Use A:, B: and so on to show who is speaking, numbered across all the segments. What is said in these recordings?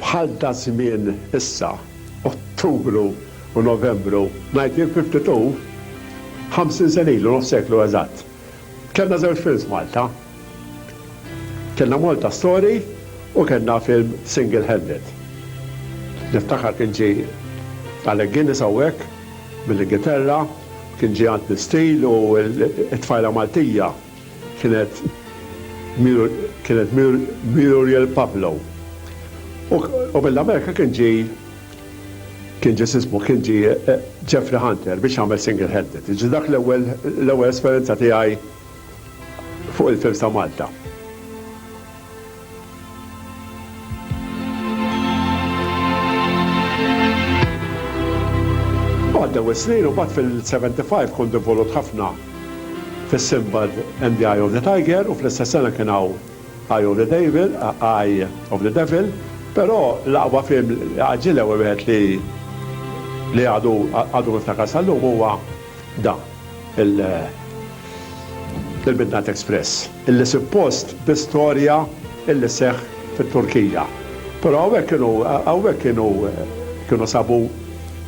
A: Bħal daż-żmien issa, Ottubru u Novembru, ngħid jien fi ftit hu, ħamsin sena ilu, nofs seklu eżatt, kellna żewġ films Malta. Kellna Malta Story u kellna film Single Handed. Niftakar kien ġie Alec Guinness hawnhekk mill-Ingilterra, kien ġie Anthony Steele u t-tfajla Maltija, kienet Muriel Pablo. U qabel l-Amerika kien ġie kien ġie x'ismu, kien ġie Jeffrey Hunter biex jagħmel single headed. Jiġifieri dak l-ewwel l-ewwel esperjenza tiegħi fuq il-films ta' Malta. Għaddew is-snin u mbagħad fil-75 kont involut ħafna fis-Sinbad and the Eye of the Tiger u fl-istess sena kien hawn Eye of the Devil, Eye of the Devil, però l-aqwa film, għaġġil l-ewwel wieħed li li għadu għadu niftakar sal-lum huwa Dan il-Midnight Express, illi suppost bi storja illi seħħ fit-Turkija. Però hawnhekk kienu hawnhekk kienu kienu sabu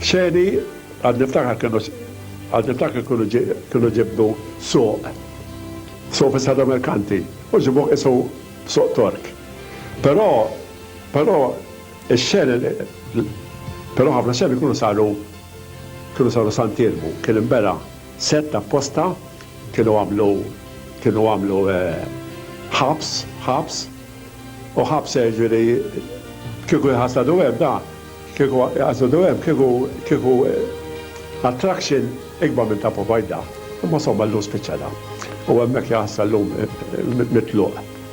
A: xeni għad niftakar kienu għad niftakar kienu kienu ġibdu suq suq fis-Sada Merkanti u ġibu qisu suq Tork. Però però ix-xeni però ħafna xeni kienu saru Krużoru Sant Irmu kien imbera' sett apposta kienu għamlu kienu għamlu ħabs ħabs u ħabs jiġifieri kieku jħasadu hemm da kieku jħasadu hemm kieku kieku attraction ikbar minn ta' Povajda imma somma llum spiċċa da u hemmhekk jaħssa llum mitluq.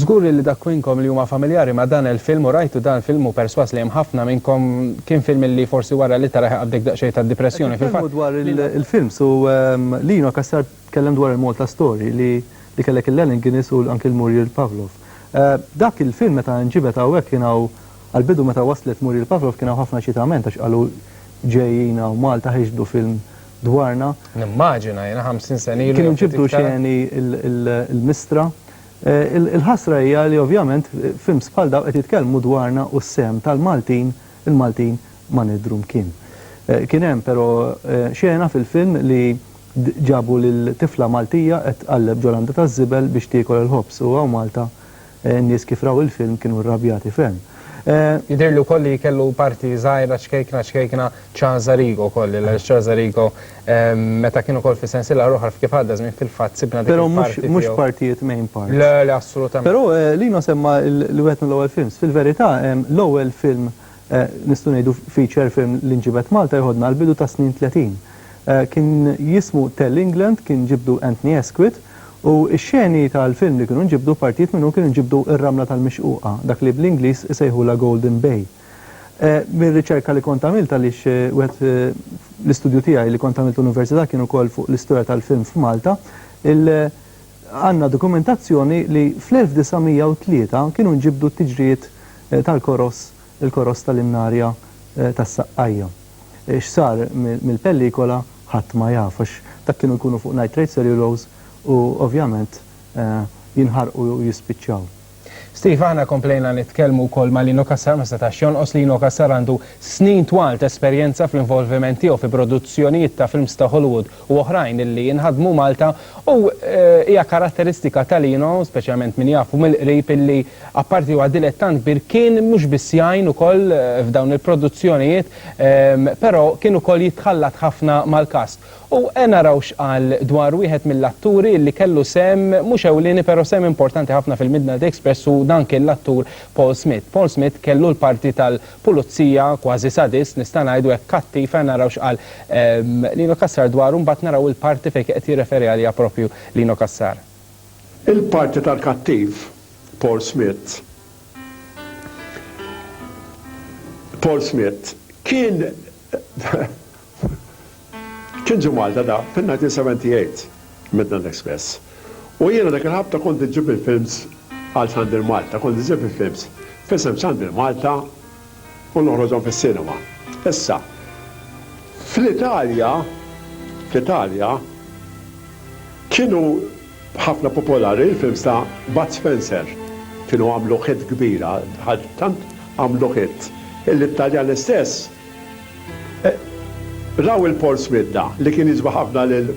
B: Żgur li dak minnkom li huma familjari ma' dan il-film u rajtu dan film hu persważ li hemm ħafna minnkom kien film li forsi wara li tarah iqabbdek daqsxejn tad-dipressjoni. Qed nitkellmu dwar il-films
C: u Lino Cassar tkellem dwar il-Malta Story li li kellek il-Allen Guinness u anki l-Muriel Pavlov. Dak il-film meta nġibed hawnhekk kien hawn Għall-bidu meta waslet Muriel Pavlov kien hawn ħafna ċitament għax qalu ġejjin hawn Malta ħeġġdu film dwarna. Nimmaġina, jiena
B: ħamsin sena ilu jew ftit iktar. Kienu ġibdu xeni
C: l-mistra. Il-ħasra hija li ovvjament films bħal dawn qed jitkellmu dwarna u s-sehem tal-Maltin, il-Maltin ma nidhru mkien. Kien hemm però xena fil-film li ġabu lil tifla Maltija qed tqalleb ġo landa taż-żibel biex tiekol il-ħobż u hawn Malta N-nies kif raw il-film kienu rrabjati ferm. Jidhirli wkoll
B: li kellu parti żgħira ċkejkna ċkejkna Casa Rigo wkoll li għaliex Casa Rigo meta kien ukoll fis-sensiela l-oħra f'Kif Għadda Żmien fil-fatt sibna dik il-parti tiegħu. Però mhux partijiet main
C: parts. Le, le assolutament. Però
B: Lino semma
C: li wieħed mill-ewwel films. Fil-verità l-ewwel film nistgħu ngħidu feature film li nġibed Malta jħoddna għall-bidu tas-snin tletin. Kien jismu Tell England, kien ġibdu Anthony Asquith, u x-xeni tal-film li kienu nġibdu, partijiet minnhom kienu nġibdu r-Ramla tal-Mixquqa, dak li bl-Ingliż isejħulha Golden Bay. Mir-riċerka li kont għamilt għaliex wieħed l-istudju tiegħi li kont għamilt l-università kien ukoll fuq l-istorja tal-film f'Malta, il, għandna dokumentazzjoni li fl-1903 kienu nġibdu t-tiġrijiet tal-koross Il-koross tal-innarja tas-saqqajja. X'sar mill-pellikola ħadd ma jaf għax dak kienu jkunu fuq nitrate cellulose u ovvjament jinħarqu u jispiċċaw. Steve, Aħna
B: komplejna nitkellmu wkoll ma' Lino Cassar, ma setax jonqos. Lino Cassar għandu snin twal t'esperjenza fl-involviment tiegħu fi produzzjonijiet ta' films ta' Hollywood u oħrajn li jinħadmu Malta u hija karatteristika ta' Lino, speċjalment min jafu mill-qrib, illi apparti huwa dilettant kbir kien mhux biss jgħin ukoll f'dawn il-produzzjonijiet però kien ukoll jitħallat ħafna mal-kast. U naraw x'qal dwar wieħed mill-atturi illi kellu sehem mhux ewlieni però sehem importanti ħafna fil-Midnight Express u dan kien l-attur Paul Smith. Paul Smith kellu l-parti tal Pulizija, kważi sadist, nista' ngħidu hekk kattiv, ejja naraw x'qal Lino Cassar dwaru mbagħad naraw il-parti fejn kien qed jirreferi għaliha proprju Lino Cassar. Il-parti
A: tal-kattiv Paul Smith Paul Smith kien Kien ġie Malta da fin-1978 Midland Express u jiena dak il-ħabta kont iġġib il-films għal Xandir Malta, kont iġġib il-films f'isem Xandir Malta u noħroġhom fis-sinema. Issa, fl-Italja, fl-Italja kienu ħafna popolari l-films ta' Bud Spencer, kienu għamlu hit kbira, tant għamlu hit illi t-Taljani stess, Raw il-Polls Midda li kien jiġbed ħafna lil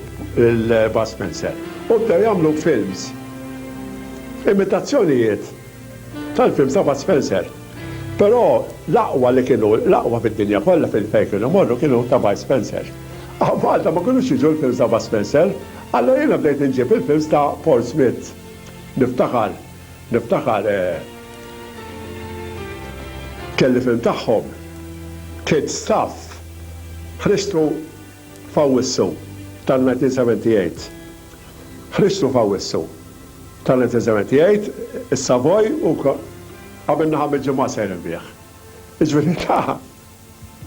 A: Bud Spencer u bdew jagħmlu films, imitazzjonijiet tal-films ta' Bud Spencer. Però l-aqwa li kienu, l-aqwa fid-dinja kollha fejn kienu jmorru kienu ta' Bud Spencer. Malta ma kinux jiġu l-films ta' Bud Spencer, allura jiena bdejt inġib il-films ta' Paul Smith. Niftakar. Niftakar kelli film tagħhom, Kid Stuff, Ħristu f'Awwissu tal-1978. Ħristu f'Awwissu tal-1978, is-Savoy u għamilna ħames ġimgħat sejrin bih. Jiġifieri ta'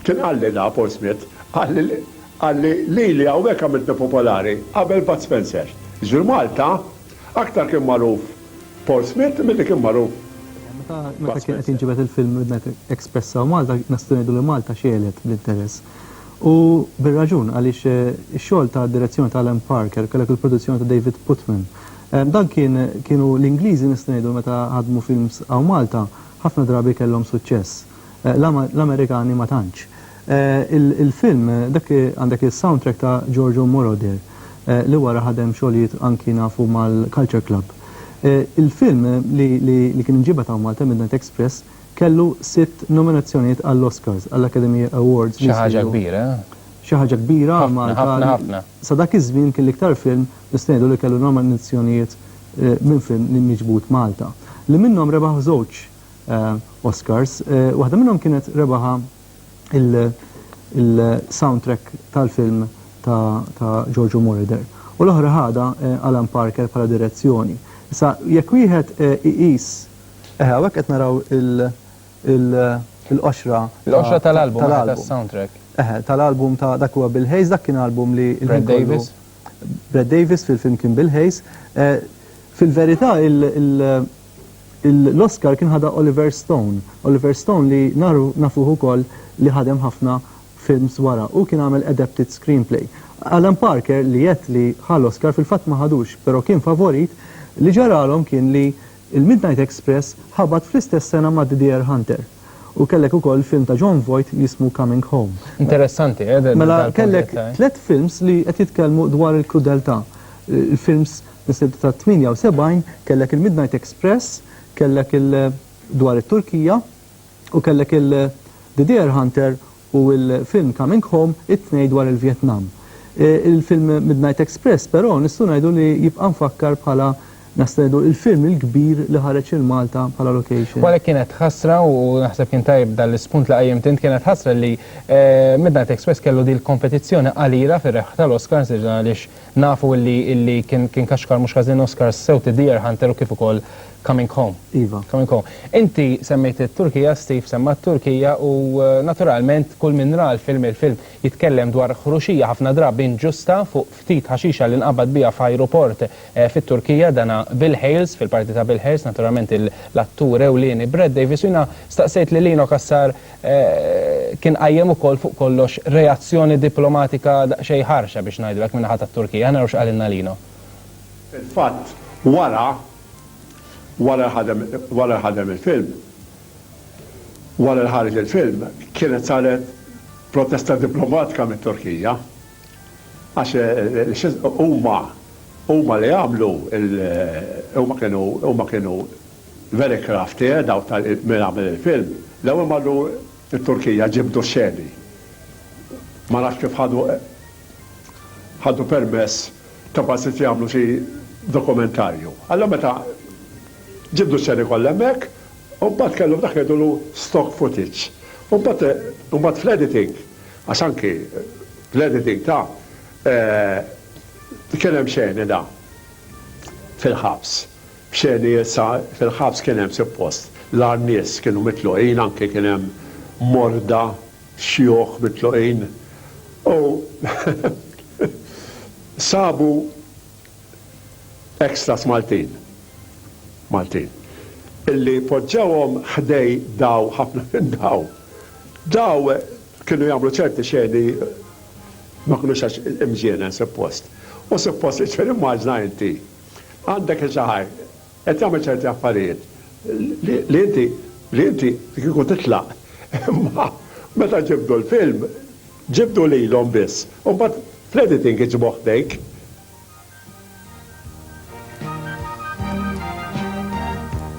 A: Kien qalli na Paul Smith, qalli qalli lili hawnhekk għamiltni popolari qabel Bud Spencer. Jiġifieri Malta aktar kien magħruf Paul Smith milli kien magħruf Bud Spencer. Meta
C: kien qed jinġibed il-film Midnight Express hawn Malta nistgħu ngħidu li Malta xegħlet bl-interess. U bir-raġun għaliex ix-xogħol ta' direzzjoni ta' Alan Parker, kellek il-produzzjoni ta' David Putman. Dan kien kienu l-Ingliżi nistgħu ngħidu meta ħadmu films hawn Malta ħafna drabi kellhom suċċess. L-Amerikani ma tantx. Il-film, dak għandek is-soundtrack ta' Giorgio Moroder li wara ħadem xogħlijiet anki nafu mal-Culture Club. Il-film li kien inġiebed hawn Malta, Midnight Express, kellu sitt nominazzjonijiet għall-Oscars, għall-Academy Awards. Xi ħaġa kbira, eh?
B: Xi ħaġa kbira
C: għal Malta. Ħafna, ħafna, ħafna.
B: Sa dak iż-żmien
C: kien l-iktar film nista' ngħidu li kellu nominazzjonijiet minn film li miġbud Malta. Li minnhom rebaħ żewġ Oscars. Waħda minnhom kienet rebaħa il-soundtrack tal-film ta' Giorgio Moroder u l-oħra ħadha Alan Parker bħala direzzjoni. Issa jekk wieħed iqis eħe hawnhekk qed naraw il-qoxra Il-qoxra tal-album eħe
B: tas-soundtrack. Eħe, tal-album ta'
C: dak huwa Bill Hayes, dak kien album li Brad Davis?
B: Brad
C: Davis fil-film kien Bill Hayes. Fil-verità L-Oscar kien ħadha Oliver Stone. Oliver Stone li nafuh ukoll li ħadem ħafna films wara. Hu kien għamel adapted screenplay. Alan Parker li għedt li ħa l-Oscar fil-fatt ma ħadux, però kien favorit, li ġaralhom kien li l-Midnight Express ħabat fl-istess sena ma' The Deer Hunter. U kellek ukoll film ta' Jon Voight li jismu Coming Home. Interessanti, eh?
B: Mela kellek
C: tliet films li qed jitkellmu dwar il-krudeltà. Films Is-silta tat-78 kellek il-Midnight Express, kellek il dwar it-Turkija u kellek il The Deer Hunter u l-film Coming Home, it-tnejn dwar il-Vjetnam. Il-film Midnight Express però nistgħu ngħidu li jibqa' mfakkar bħala nistgħu ngħidu il-film il-kbir li ħareġ lil Malta bħala location. Għalhekk kienet ħasra
B: u naħseb kien tajjeb dan l-ispunt li qajjimt int, kienet ħasra li Midnight Express kellu din il-kompetizzjoni qalila fir-rebħ tal-Oscars għaliex Nafu illi illi kien kien kaxkar mhux ħażin Oscars sew ta' Deer Hunter u kif ukoll Coming Home. Iva. Coming Home.
C: Inti
B: semmejt it-Turkija, Steve semma t-Turkija u naturalment kull min ra l-film il-film jitkellem dwar ħruxija ħafna drabi inġusta fuq ftit ħaxixa li nqabad biha f'ajruport fit-Turkija dana Bill Hales fil-parti ta' Bill Hales naturalment l-attur ewlieni Brad Davies u jiena staqsejt lil Eno Cassar kien qajjem ukoll fuq kollox reazzjoni diplomatika daqsxejn ħarxa biex ngħidu hekk min-naħa tat-Turkija. Ħa naraw x'qalilna Lino. Fil-fatt
A: wara, wara li ħadem, wara li ħadem il-film, wara li ħareġ il-film, kienet saret protesta diplomatika mit-Turkija għax huma, huma li għamlu, huma kienu, huma kienu Very crafty, eh, dawk ta' min għamel il-film. L-ewwel marru t-Turkija ġibdu x-xeni. Ma nafx kif ħadu ħadu permess ta' bażit jagħmlu xi dokumentarju. Allura meta ġibdu x-xeni kollha hemmhekk, u mbagħad kellhom dak li jgħidulu stock footage. U mbagħad u mbagħad fl-editing, għax anki l-editing ta' kien hemm xeni da fil-ħabs. Xeni issa fil-ħabs kien hemm suppost l-agħar nies kienu mitluqin anke kien hemm morda, xjuħ mitluqin u sabu extras Maltin, Maltin, illi poġġewhom ħdej daw ħafna minn daw. Daw kienu jagħmlu ċerti xeni ma kinux għax imġienen suppost. U suppost, ġifieri immaġna inti. Għandek iż-żgħir qed jagħmel ċerti affarijiet li inti li inti kieku titlaq imma meta ġibdu l-film ġibdu lilhom biss u mbagħad fl-editing iġibu ħdejk.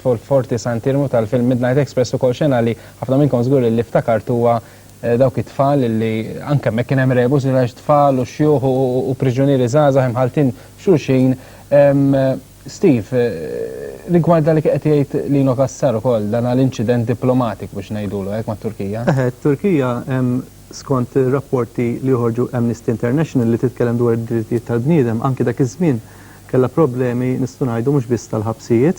B: Forti Sant Irmu tal-film Midnight Express ukoll xena li ħafna minnkom żgur li ftakart huwa dawk it-tfal li anke hemmhekk kien hemm rebus għax tfal u xjuħ u priġunieri żgħażagħ imħalltin f'xulxin. Steve, rigward dak li kien qed jgħid Lino Cassar ukoll, dan l-inċident diplomatiku biex ngħidulu hekk mat-Turkija. Eħe, t-Turkija hemm skont
C: rapporti li joħorġu Amnesty International li titkellem dwar id-drittijiet tal-bniedem anke dak iż-żmien Kellha problemi nistgħu ngħidu mhux biss tal-ħabsijiet,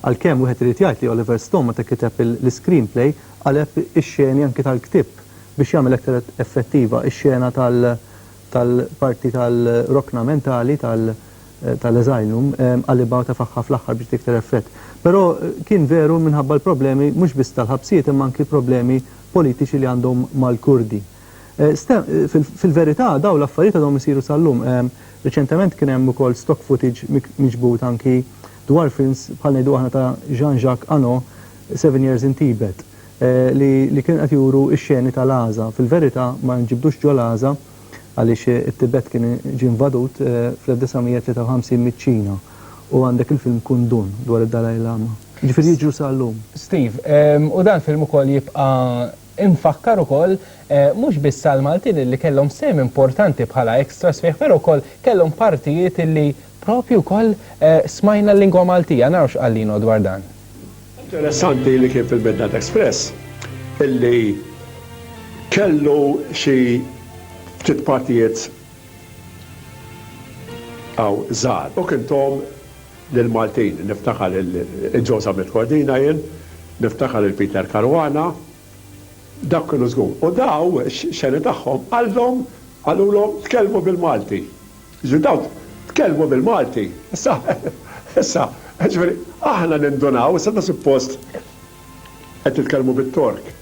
C: għalkemm wieħed irid jgħid li Oliver Stone meta kiteb l-iscreenplay qaleb ix-xeni anki tal-ktieb biex jagħmel aktar effettiva x-xena tal-parti tal-rokna mentali tal-asylum qalibha u tefagħha fl-aħħar biex tagħti aktar effett. Però kien veru minħabba l-problemi mhux biss tal-ħabsijiet imma anki problemi politiċi li għandhom mal-Kurdi. Fil-verità dawn l-affarijiet għadhom isiru sal-lum. Riċentement kien hemm ukoll stock footage miġbud anki dwar films bħal ngħidu aħna ta' Jean-Jacques Anno, Seven Years in Tibet, li kienu qed juru x-xeni tal-Għaża. Fil-verità ma nġibdux ġo l-Għaża għaliex it-Tibet kien ġie invadut fl-1953 miċ-Ċina u għandek il-film Kundun dwar id-Dalai Lama. Jiġifieri jiġru sal-lum. Steve,
B: u dan film ukoll jibqa' Infakkar ukoll mhux biss għall-Maltin illi kellhom sehem importanti bħala extras fih però wkoll kellhom partijiet illi propju wkoll smajna l-lingwa Maltija. Naraw x'qal Lino dwar dan. Interessanti
A: li kien fil-Midnight Express illi kellu xi ftit partijiet hawn żgħar. U kintom. lill-Maltin. Niftakar lil Joe Zammit Cordina jien, niftakar lil Peter Caruana, dawk kienu żgur. U daw, x-xeni tagħhom, qallhom, qalulhom tkellmu bil-Malti. Jiġifieri daw tkellmu bil-Malti. Issa, issa, jiġifieri aħna nindunaw, issa aħna suppost qed titkellmu bit-Tork.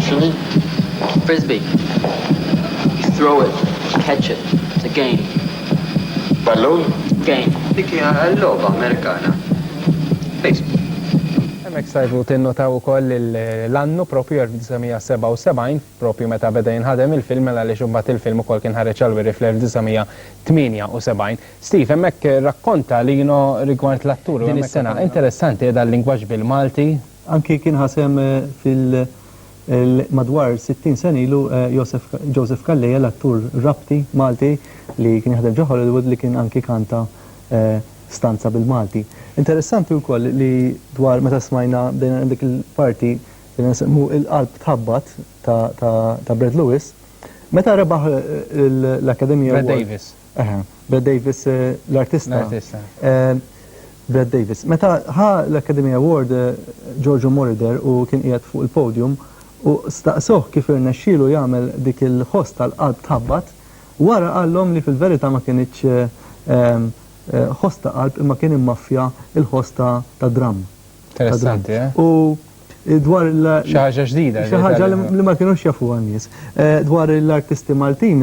D: X'inhi?
E: Frisbee. You throw it, you catch it. It's a game. Ballun?
D: Game. Dik
E: hija l-logħba Amerikana. Baseball.
B: Hemmhekk stajtu tinnotaw ukoll l-annu proprju 1977, proprju meta beda jinħadem il-film mela għaliex imbagħad il-film ukoll kien ħareġ għall-wiri fl-1978. Steve, hemmhekk rakkonta Lino rigward l-attur u hemmhekk. Din is-sena. Interessanti, qiegħda
C: l-lingwaġġ
B: bil-Malti.
C: Anki kien
B: ħa sehem fil
C: madwar 60 sena ilu Josef Joseph Calleja l-attur Rabti Malti li kien jaħdem ġo Hollywood li kien anki kanta stanza bil-Malti. Interessanti wkoll li dwar meta smajna bdejna hemm dik il-parti bdejna nsemmu Il-Qalb Tħabbat ta' ta' Brad Lewis meta rebaħ l-Academy Award. Brad Davis.
B: Eħe, Brad Davis,
C: l-artista. L-artista. Brad Davis. Meta ħa l-Academy Award, Giorgio Moroder u kien qiegħed fuq il-podium u staqsuh kif irnexxielu jagħmel dik il-ħoss tal-qalb tħabbat, wara qallhom li fil-verità ma kinitx ħoss ta' qalb imma kien immaffja l-ħoss ta' dramm. Interessanti,
B: eh? U
C: dwar il- Xi ħaġa
B: ġdida. Xi ħaġa li ma kinux
C: jafuha n-nies. Dwar l-artisti Maltin,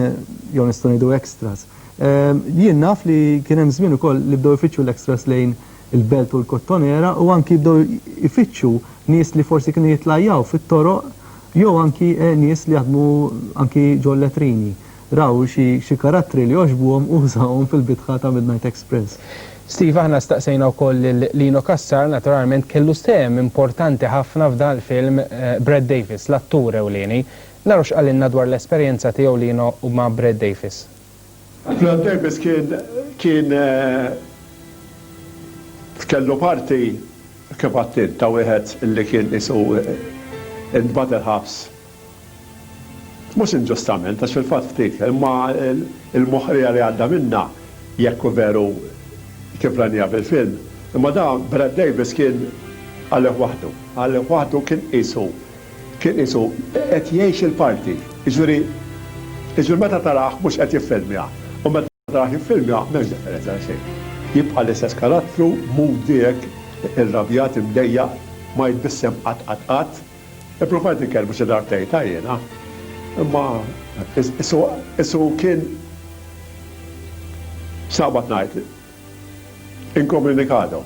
C: jew nistgħu ngħidu extras, jien naf li kien hemm żmien ukoll li bdew ifittxu l-extras lejn il-Belt u l-Kottonera u anki bdew ifittxu nies li forsi kienu jitlajjaw fit-toroq jew anki nies li jaħdmu anki ġol-letrini. raw xi karattri li għoġbuhom u użawhom fil-bitħa ta' Midnight Express. Steve, aħna
B: staqsejna wkoll lil Lino Cassar, naturalment kellu sehem importanti ħafna f'dan il-film Brett Davis, l-attur ewlieni. Naraw x'qalilna dwar l-esperjenza tiegħu Lino ma' Brett Davis. Brett
A: Davis kien kien kellu parti kif għedt int ta' wieħed li kien qisu ntbagħat il-ħabs. Mhux inġustament, għax fil-fatt ftit, imma l-moħqrija li għadda minnha, jekk hu veru kif rajniha fil-film, imma da Brad Davis kien għalih waħdu. Għalih waħdu kien qisu, kien qisu qed jgħix il-parti. Jiġifieri, jiġifieri meta tarah mhux qed jiffilmja, u meta. Rah il-film jagħmel differenza għal xejn. Jibqa' l-istess karattru, moody hekk, irrabjat, imdejjaq, ma jitbissem qatt qatt qatt. Ippruvajt inkellmu xi darbtejn ta' jiena, imma qisu kien x'naqbad ngħid, inkomunikado.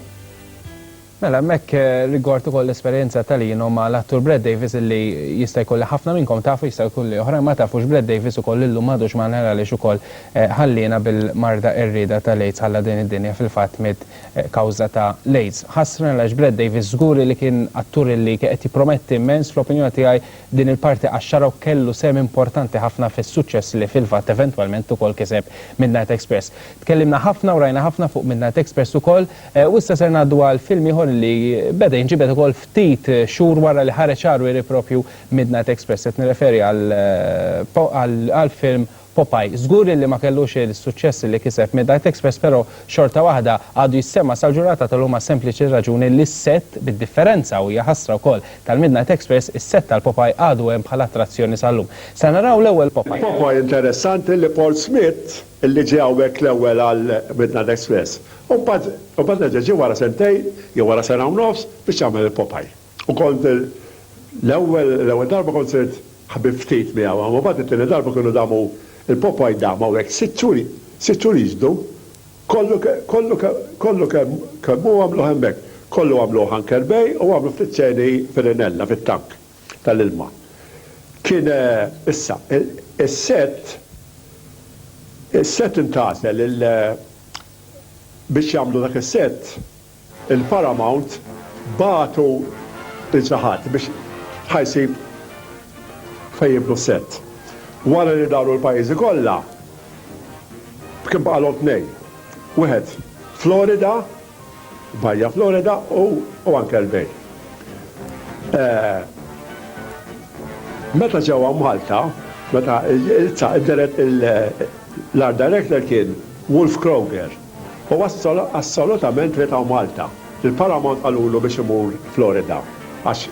A: Mela
B: hemmhekk rigward ukoll l-esperjenza ta' Lino ma' l-attur Brad Davis illi jista' jkun li ħafna minnkom tafu jista' jkun li oħrajn ma tafux Brad Davis ukoll illum m'għadux magħna għaliex ukoll ħalliena bil-marda qerrieda ta' l-AIDS ħalla din id-dinja fil-fatt miet kawża ta' l-AIDS. Ħasra għaliex Brad Davis żgur illi kien attur illi kien qed jipprometti immens fl-opinjoni tiegħi din il-parti qaxxarha u kellu sehem importanti ħafna fis-suċċess li fil-fatt eventwalment ukoll kiseb Midnight Express. Tkellimna ħafna u rajna ħafna fuq Midnight Express ukoll U issa ser ngħaddu għal film ieħor li beda jinġibed ukoll ftit xhur wara li ħareġ għar wiri proprju Midnight Express, qed nirreferi għall-film Popeye. Żgur illi ma kellux is-suċċess li kiseb Midnight Express però xorta waħda għadu jissema' sal-ġurnata tal-lum għas-sempliċi raġuni li s-sett, bid-differenza u hija ħasra wkoll tal-Midnight Express, is-sett tal-Popeye għadu hemm bħala attrazzjoni sal-lum. Ser naraw l-ewwel Popeye. Popeye interessanti
A: li Paul Smith li ġie hawnhekk l-ewwel għal Midnight Express u mbagħad reġa' ġie wara sentejn jew wara sena u nofs biex jagħmel il-Popeye. U kont l-ewwel l-ewwel darba kont sirt ħbieb ftit miegħu imma mbagħad it-tieni darba kienu damu il-Popeye dam hawnhekk sitt xhur sitt xhur jiġdu kollu kollu kollu kemm kemm hu għamluh hemmhekk. Kollu għamluh Anchor Bay u għamlu ftit xeni fir-Rinella fit-tank. tal-ilma. Kien issa, is-set, is-set intgħażel il, biex jagħmlu dak is-set, il-Paramount bagħtu lil xi ħadd biex ħa jsib fejn jibnu s-set. Wara li daru l-pajjiżi kollha, kien baqalhom tnejn. Wieħed Florida, Baja Florida u anke l-Bay. Meta ġewwa Malta, meta l-Art Director kien Wolf Kroger, u assolutament ried hawn Malta. Il-Paramount qalulu biex imur Florida għax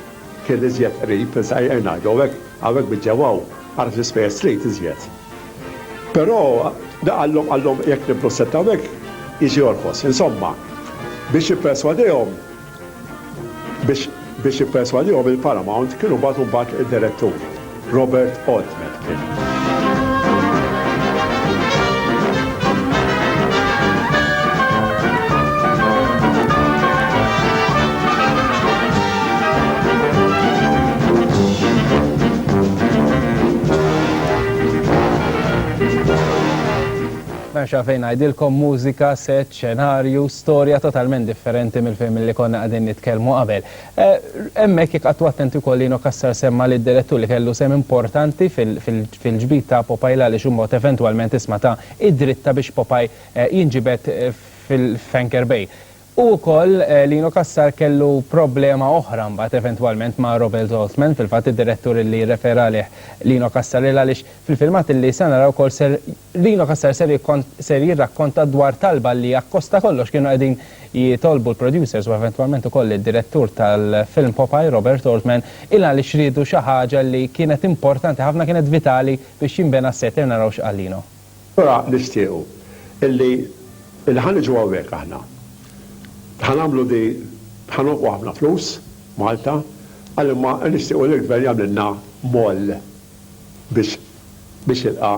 A: kien iżjed qrib, insajr ngħidu, hawnhekk biġġewwaw, ara x'ispejjeż trid iżjed. Però, da qallhom, qallhom, jekk nibnu s-sett hawnhekk, jiġi jorħos. Insomma, biex jipperswadihom, biex biex jipperswadihom il-Paramount kienu bagħtu mbagħad id-direttur, Robert Altman kien.
B: M'hemmx għalfejn ngħidilkom, mużika, set, xenarju, storja totalment differenti mill-film li konna qegħdin nitkellmu qabel. Hemmhekk jekk qagħdtu attenti wkoll Lino Cassar semma li d-direttur li kellu sehem importanti fil-ġbid ta' Popeye l-għaliex imbagħad eventwalment isma' ta id-dritta biex Popeye jinġibed f'Anchor Bay. U wkoll Lino Cassar kellu problema oħra mbagħad eventwalment ma' Robel Zolthman, fil-fatt id-direttur li jirrefera għalih Lino Cassar il għaliex fil-filmat li se naraw ukoll ser Lino Cassar ser ser jirrakkonta dwar talba li akkost ta' kollox kienu qegħdin jitolbu l-producers u eventwalment ukoll id-direttur tal-film Popeye, Robert Zolthman, il għaliex riedu xi ħaġa li kienet importanti ħafna kienet vitali biex jinbena s-set ser naraw x'qal Lino. Allura
A: nixtiequ illi illi ħa niġu hawnhekk aħna. Ħa nagħmlu di ħa nonfqu ħafna flus, Malta, qal imma nixtiequ li l-Gvern jagħmlilna moll biex biex jilqa'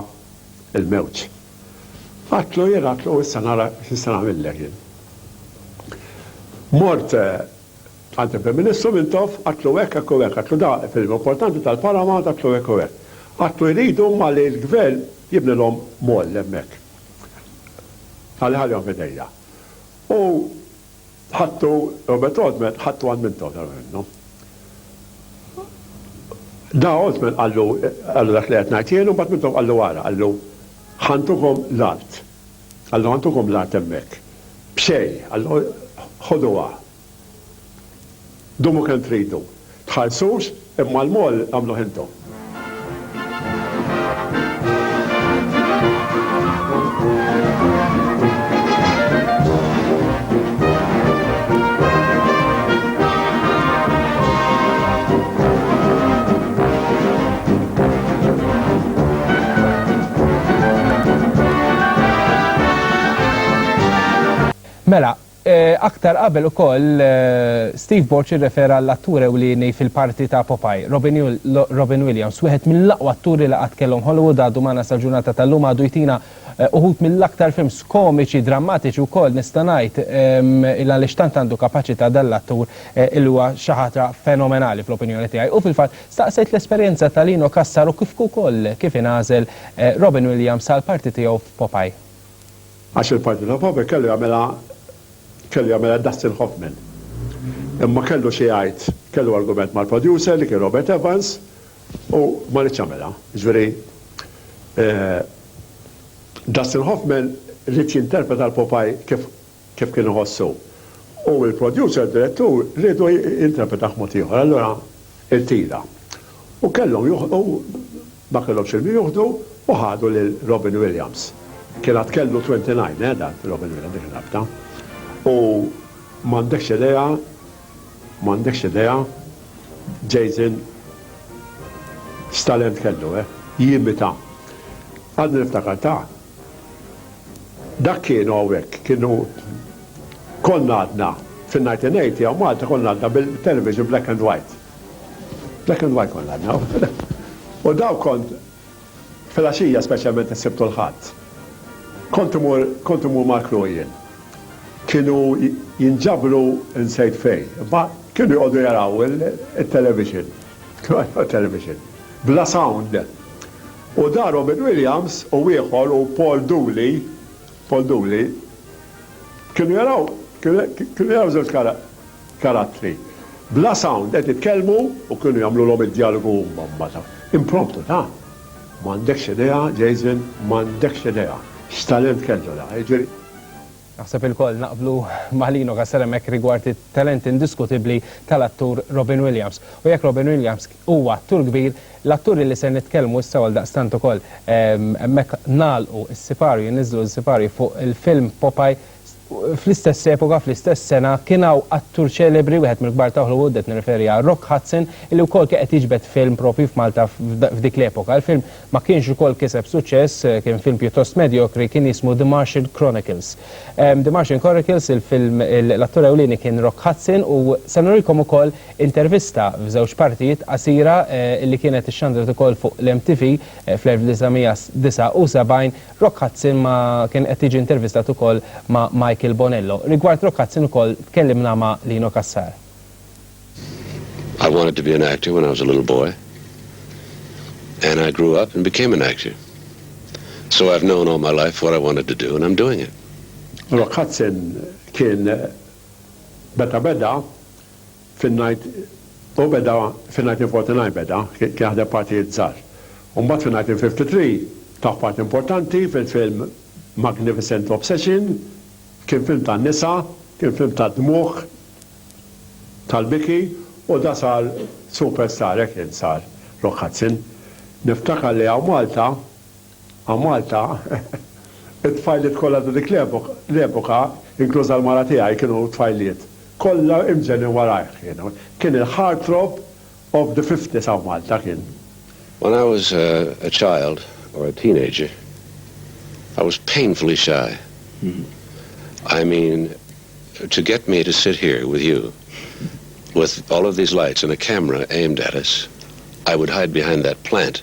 A: l-mewġ. Għadtlu jien għadtlu issa nara x'nista' nagħmillek jien. Mort Għad il-Prim Ministru Mintoff, għadtlu hekk, hekk u hekk, għadtlu da film importanti tal-Paramount, għadtlu hekk u hekk. Għadtlu jridu huma li l-Gvern jibnilhom mall hemmhekk. Qal iħallihom f'idejja. U ħadtu, Robert Altman, ħadtu għand Mintoff darba minnhom. Da Altman qallu, qallu dak li qed ngħid jien u mbagħad Mintoff qallu ara, qallu, ħa ntukom l-art. Alla għandukom l-art hemmhekk. B'xejn. Alla, ħoduha. Dumu kemm tridu. Tħallsux, imma l-moll agħmluh intom.
B: Mela, aktar qabel ukoll Steve Borg irrefera għall-attur ewlieni fil-parti ta' Popeye, Robin Williams, wieħed mill-aqwa atturi li qatt kellhom Hollywood għadu magħna sal-ġurnata tal-lum għadu jtina uħud mill-aktar films komiċi, drammatiċi wkoll nista' ngħid il għaliex tant għandu kapaċità dan l-attur li huwa xi ħaġa fenomenali fl-opinjoni tiegħi u fil-fatt Staqsejt l-esperjenza ta' Lino Cassar u kif ukoll kif ingħażel Robin Williams għall-parti tiegħu f'Popeye. Għax
A: il-parti ta' Popeye kellu jagħmilha kellu jagħmilha Dustin Hoffman. Imma kellu xi jgħid, kellu argument mal-producer li kien Robert Evans u ma riedx jagħmilha. Jiġifieri Dustin Hoffman ried jinterpreta l-Popeye kif kif kien iħoss hu, u l-producer, direttur, riedu jinterpretah mod ieħor, allura irtira. U kellhom joħlqu, ma kellhomx il-min joħdu u ħadu lil Robin Williams. Kien għad kellu 29 eh dan Robin Williams dik ir-rabta. U m'għandekx idea, m'għandekx idea, Jason x'talent kellu eh, jimita. Għadni niftakar ta'. Dak kienu hawnhekk, kienu konna għadna fin-1980 hawn Malta konna għadna bil-television black and white. Black and white konna għadna. U daw kont filgħaxija speċjalment is-Sibt u l-Ħadd. Kont imur kont imur mal-crew jien. Kienu jinġabru nsejt fejn, imma kienu joqogħdu jaraw it-television. Kienu jaraw it-television. Bla sound. U da Robin Williams u ieħor u Paul Dooley, Paul Dooley, kienu jaraw, kienu jaraw żewġ karattri, bla sound qed jitkellmu u kienu jagħmlulhom id-djalogu huma mbagħad. Impromptu, ta? M'għandekx idea, Jason, m'għandekx idea x'talent kellu da, jiġifieri. Naħseb
B: ilkoll naqblu ma' Lino Castelemec rigward it-talent indiskutibbli tal-attur Robin Williams. U jekk Robin Williams Huwa attur kbir, l-atturi li ser nitkellmu issa u għaldaqstant ukoll hemmhekk nagħlqu s-sipario, jniżżlu s-sipario fuq il-film Popeye. Fl-istess epoka, fl-istess sena, kien hawn attur ċelebri, wieħed mill-kbar ta' Hollywood, qed nirreferi għal Rock Hudson, illi wkoll kien qed jiġbed film proprju f'Malta f'dik l-epoka. Il-film ma kienx ukoll kiseb suċċess, kien film pjuttost medjokri, kien jismu The Martian Chronicles. The Martian Chronicles, il-film, l-attur ewlieni kien Rock Hudson u se nurikom ukoll Intervista f'żewġ partijiet qasira li kienet ixxandret ukoll fuq l-MTV fl-1979, Rock Hudson ma' kien qed jiġi intervistat ukoll ma' Michael Bonello. Rigward Rock Hudson ukoll tkellimna ma' Lino Cassar.
F: I wanted to be an actor when I was a little boy and I grew up and became an actor. So I've known all my life what I wanted to do and I'm doing it. Rock Hudson
A: kien meta beda Fin-Night hu beda fin-Night in Forty Nine beda, kien jaħdem partijiet żgħar. U mbagħad fin-Night in Fifty Three taf parti importanti fil-film Magnificent Obsession, kien film tan-nisa, kien film tad-dmugħ, tal-biki u da sar superstar hekk kien sar Rock Hudson. Niftakar li hawn Malta A Malta, it-tfajliet kollha ta' dik l-epoka, inkluża l-mara tiegħi, kienu tfajliet. Kollha imġennin warajh kienu. Kien il-heartthrob of the fifties hawn Malta kien. When I was
F: a child or a teenager, I was painfully shy. I mean, to get me to sit here with you, with all of these lights and a camera aimed at us, I would hide behind that plant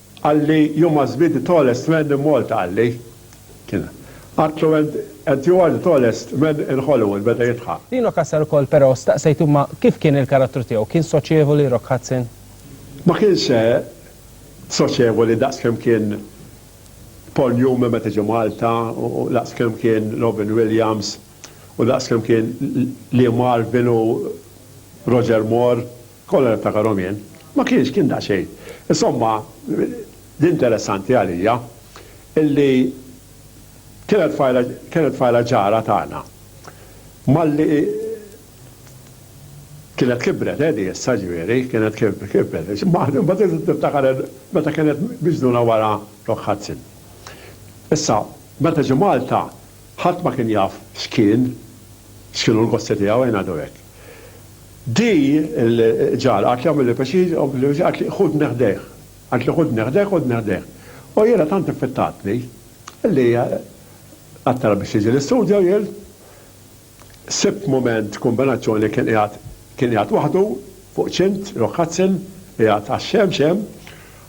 A: Qal li you must be the tallest man in Malta qal li. Kien. Għadtlu and and you are the tallest man in Hollywood beda jidħaq. Lino Kassar ukoll però
B: staqsejtu imma kif kien il-karattru tiegħu, kien soċjevoli Rock Hudson? Ma kienx
A: soċjevoli daqs kemm kien Paul Newman meta ġie Malta u daqs kemm kien Robin Williams u daqs kemm kien Lee Marvin u Roger Moore. Kollha niftakarhom jien. Ma kienx, kien daqsxejn. Insomma, l-interessanti għalija illi kienet tfajla, kienet tfajla ġara tagħna. Malli kienet kibret, eh, di issa, ġifieri, kienet kibret. Ma tistax tiftakar meta kienet miġnuna wara Rock Hudson. Issa, meta ġie Malta, ħadd ma kien jaf x'kien, x'kienu l-gossi tiegħu, ejn ngħidu hekk. Di l ġar għad jagħmilli pjaċir, għad ħudni ħdejh, għad ħudni ħdejh, ħudni ħdejh. U jiena tant iffittatni li għadt biex jiġi l-istudio jien, sibt mument kumbinazzjoni kien qiegħed kien qiegħed waħdu fuq ċint, Rock Hudson, qiegħed għax-xemx hemm,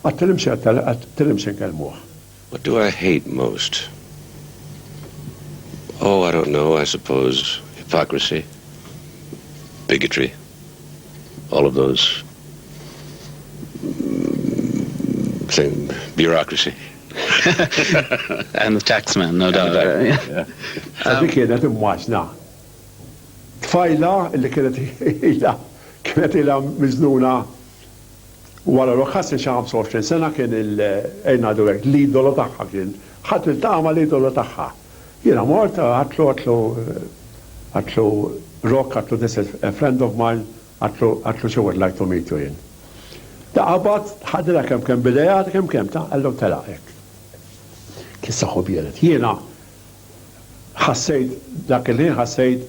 A: għadt nimxi għadt nimxi nkellmuh. What do I
F: hate most? Oh, I don't know, I suppose hypocrisy, bigotry, all of those thing, bureaucracy.
G: And the taxman, no doubt. Sa
A: dik kienet imwaġna. Tfajla li kienet ila kienet ila miżnuna Wara li Ħassel xi 25 sena kien il, ejn ngħidu hekk, l-idolo tagħha kien. Ħadd ma ltaqa' mal-idolo tagħha. Jiena mort, għadtlu, għadtlu, għadtlu Rock, għadtlu this is a friend of mine, għadtlu, għadtlu she would like to meet you jien. Ta' qabad, ħadilha kemm kemm b'idejha, kemm kemm, ta' qal lhom telaq hekk. Kien saħħu biered. Jiena ħassejt, dak il-ħin ħassejt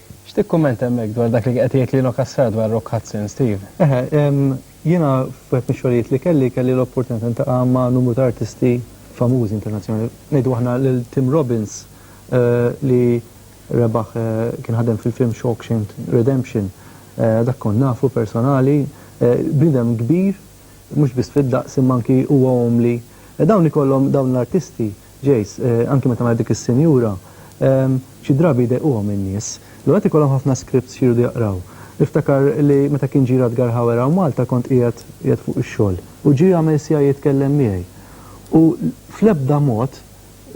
F: X'tikkummenta hemmhekk
B: dwar dak li qed jgħid Lino Cassar dwar Rock Hudson, Steve? Eħe,
C: jiena f'wieħed mix-xogħlijiet li kelli, kelli l-opportunità niltaqa' ma' numru ta' artisti famużi internazzjonali. Ngħidu aħna lil Tim Robbins li rebaħ kien ħadem fil-film Shawkshank Redemption, dak kont nafu personali, bniedem kbir mhux biss fid-daqs imma anki huwa umli. Dawn ikollhom, dawn l-artisti, Jace, Anki meta ngħid dik is-sinjura, xi drabi jdejquhom in-nies. L-ulied ikollhom ħafna scripts xi jridu jaqraw. Niftakar li meta kien ġie Radgar Hauer hawn Malta kont qiegħed qiegħed fuq ix-xogħol u ġie għamel siegħa jitkellem miegħi. U fl-ebda mod,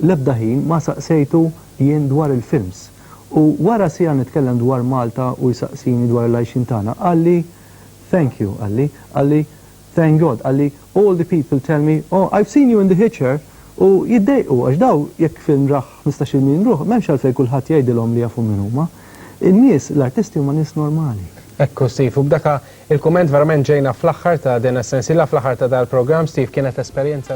C: l-ebda ħin ma saqsejtu jien dwar il-films. U wara siegħa nitkellem dwar Malta u jsaqsini dwar il-għajxien tagħna, qalli, Thank you, qalli, qalli, Thank God, qalli all the people tell me, oh, I've seen you in the hitcher u jiddejqu għax daw jekk film rah ħmistax-il miljun ruħ m'hemmx għalfejn kulħadd jgħidilhom li jafu min huma. In-nies, l-artisti huma nies normali. Hekk hu Steve u
B: b'daka il-kumment verament ġejna fl-aħħar ta' din is-sensiela, fl-aħħar ta' dal-programm Steve kienet esperjenza